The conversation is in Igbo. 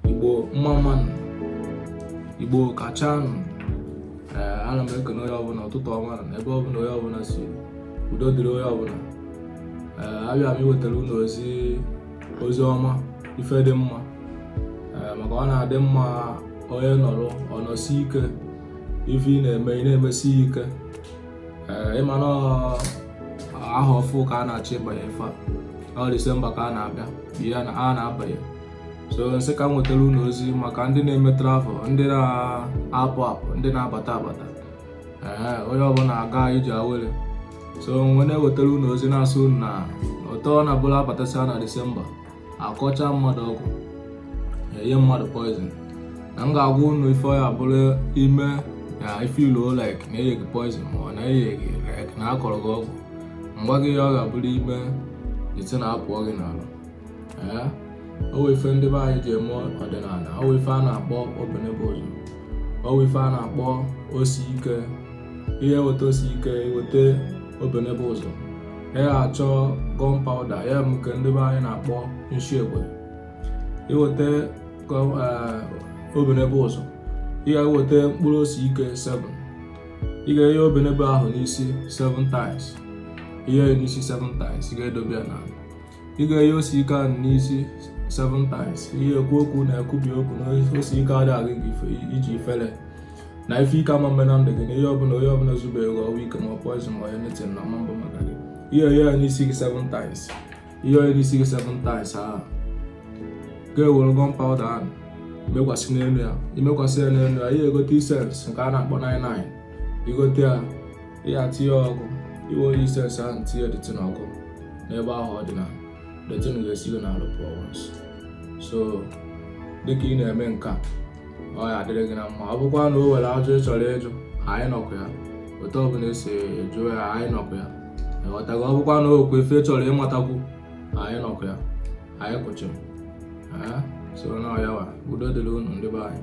igbo mma mma nụ igbo kacha nụ eh, ana m ekene onye ọbụla ụtụtụ ọma na ebe ọbụla onye ọbụla si udo dịrị onye ọbụla eh, abịa m iwetara unu ozi ozi ọma ife dị mma eh, maka ọ na-adị mma onye nọrọ ọ nọsi ike ife ị na-eme ị na-emesi ike ị ma na ahọ ọfụ ka a na-achọ ịbanye ife a ọ disemba ka a na-abịa ya na a na-abanye so m sị ka m wetara unu ozi maka ndị na-eme travel ndị na-apụ apụ ndị na-abata abata ee onye ọbụla aga iji aware so mgbe na-ewetara unu ozi na-asị unu na ụtọ na bụla abatasịa na disemba akọcha mmadụ ọgwụ enye mmadụ poison na m ga-agwa unu ife ọ ya-abụrụ ị mee na ife ilu like na enye gị poison ma ọ na enye gị like na akọrọ gị ọgwụ mgba gị ya ọ ga-abụrụ ị mee the thing apụọ gị n'alụ o nwe ife ndị be anyị ji eme ọdịnala o nwe ife a na-akpọ obenebe ụzọ o nwe ife a na-akpọ osi ike ị ya-eweta osi ike weta obenebe ụzọ ị ya-achọ gun powder ya nke ndị be anyị na-akpọ nshi egbe ị weta eh, obenebe ụzọ ị ga-eweta mkpụrụ osi ike 7 ị ga-enye obenebe ahụ n'isi 7 times ị nye n'isi 7 times ị ga-edobe ya n'ala ị ga-enye osi ike ahụ n'isi seven times ị ya-ekwu okwu na-ekwubi okwu na osi ike adịghị gị iji ifere na ife ike ama eme na ndụ gị na ihe ọbụla onye ọbụla zube ego ọwa ike ma ọ poison ma ọ anything na ọ ma-abụ maka gị ị ya-enye ya n'isi gị seven times ị nye n'isi gị seven times ahụ ị ga-ewere gun powder ahụ mekwasị n'elu ya ị mekwasị ya n'elu ya ị ya-egote incense nke a na-akpọ 99 ị gote ya ya tinye ọkụ ị were incense ahụ tinye the thing ọkụ n'ebe ahụ ọ dị na the thing ga-esi gị n'alụ pụọ once so dịka ị na-eme nke a ọ ya-adịrị gị na mma ọ bụkwa na o nwere ajụjụ ị chọrọ ịjụ anyị nọkwa ya otu ọbụla e si jụọ ya anyị nọkwa ya ị ghọtago ọ bụkwa na o nwe ife ị chọrọ ịmatakwu anyị nọkwa ya anyị kwụ chịm so na ọyawa udo dịrị unu ndị be anyị